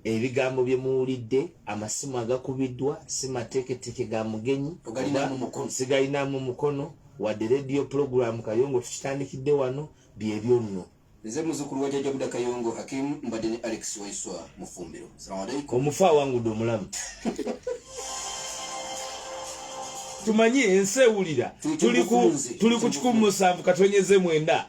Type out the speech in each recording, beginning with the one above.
ebigambo bye muwulidde amasimu agakubiddwa si mateeketeke ga mugenyi sigalinamu mukono wadde rediyo pulogulaamu kayongo tukitandikidde wano bye byonno nze muzukulu wa jajja buda kayongo hakim mbadde ne alex waiswa mufumbiro salamualaikum omufu awangudde omulamu tumanyi ensi ewulira tuli ku kikumi musanvu katonyeze mwenda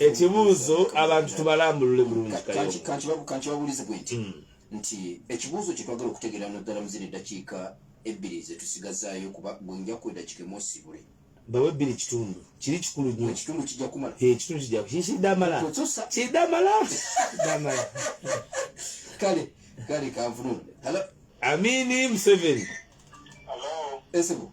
ekibuuzo abantu tubalambulule bulungikankibabuulize gwe nti hmm. nti ekibuuzo kyetwagala okutegeera naddala muzina eddakiika ebbiri zetusigazaayo kuba bwenjaku eddakiika emosibule bawe ebbiri kitundu kiri kikulu nyo ekitundu kijja kumala ekitundu kijja kikiddamala kiddamala kiddamala kale kale kanvunule amini museveni esebo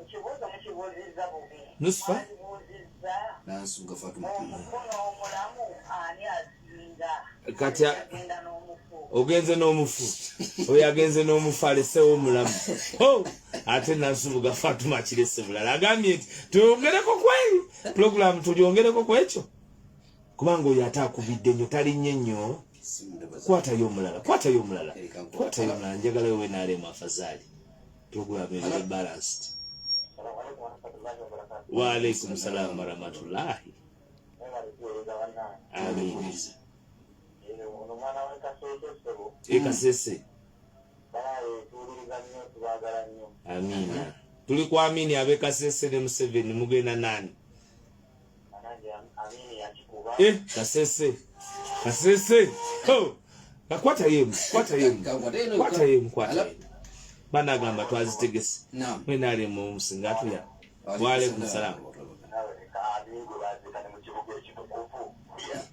Ekibuuzo mukibuuzizza bubi. Nusifa. Mukibuuzizza. Nansuga Fatuma. Omukono omulamu ani asinga? Kati agenda n'omufu. Ogenze n'omufu. Oyo agenze n'omufu alesewo omulamu. Oh! Ate nansubuga Fatuma kirese bulala. Agambye nti tuyongereko kweri. Pulogulaamu tulyongereko kwekyo. Kubanga oyo ate akubidde nnyo talinnye nnyo. Kwatayo omulala. Kwatayo omulala. Kwatayo omulala. Njagala wewe naalemu afazaali. Program is balanced. Wa alaikum salam wa rahmatullahi. Amin. Ekasese. Amina. Tuli kwa amini abekasese ne Museveni mugenda nani? Eh, kasese kasese oh. Nakwata yemu, kwata yemu, kwata yemu, kwata yemu. Bana agamba twazitegese. Mwena ali mu musinga atuya. Wa alaikum salam.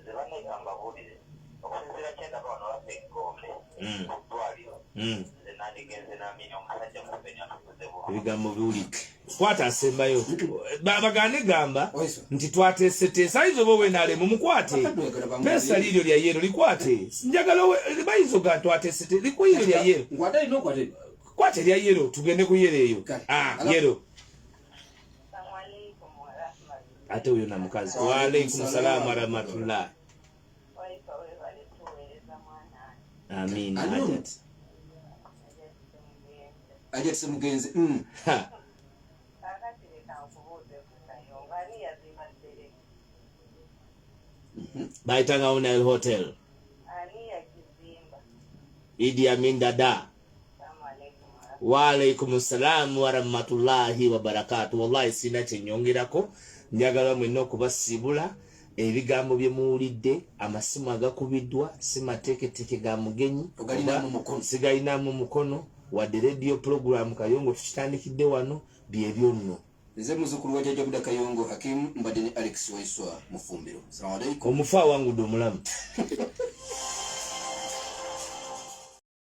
nze banne kambabuulire okusinziira kyendaba wano waffe egombe hmm. ku ddwaliro hmm. nze nandigenze namini omusajja museveni atukuze bu ebigambo biwulike kwata asembayo bagane gamba nti twateeseteesa ayinza oba owenalemu mukwate pesa liiryo lya yeero likwate njagala bayinza oga twateesete likuyiiryo lya yeero kwata erya yeero tugende ku yeero eyo ah, yeero ate oyo na mukazi waalaikum salaamu warahmatullah amiina hajat hajat semugenzi mm. mhm. bayitanga unel hotel idi amin dada waalaikum salaamu warahmatullahi wabarakatu wallahi sirina kyenyongerako njagala mwena okubasiibula ebigambo bye muwulidde amasimu agakubiddwa si mateeketeke ga mugenyi sigalinamu mukono wadde rediyo pulogulaamu kayongo tukitandikidde wano byebyo nno nze muzukulu wa jaja buda kayongo hakimu mbadde ne alex waiswa mufumbiro salamu alaikum omufu awangudde omulamu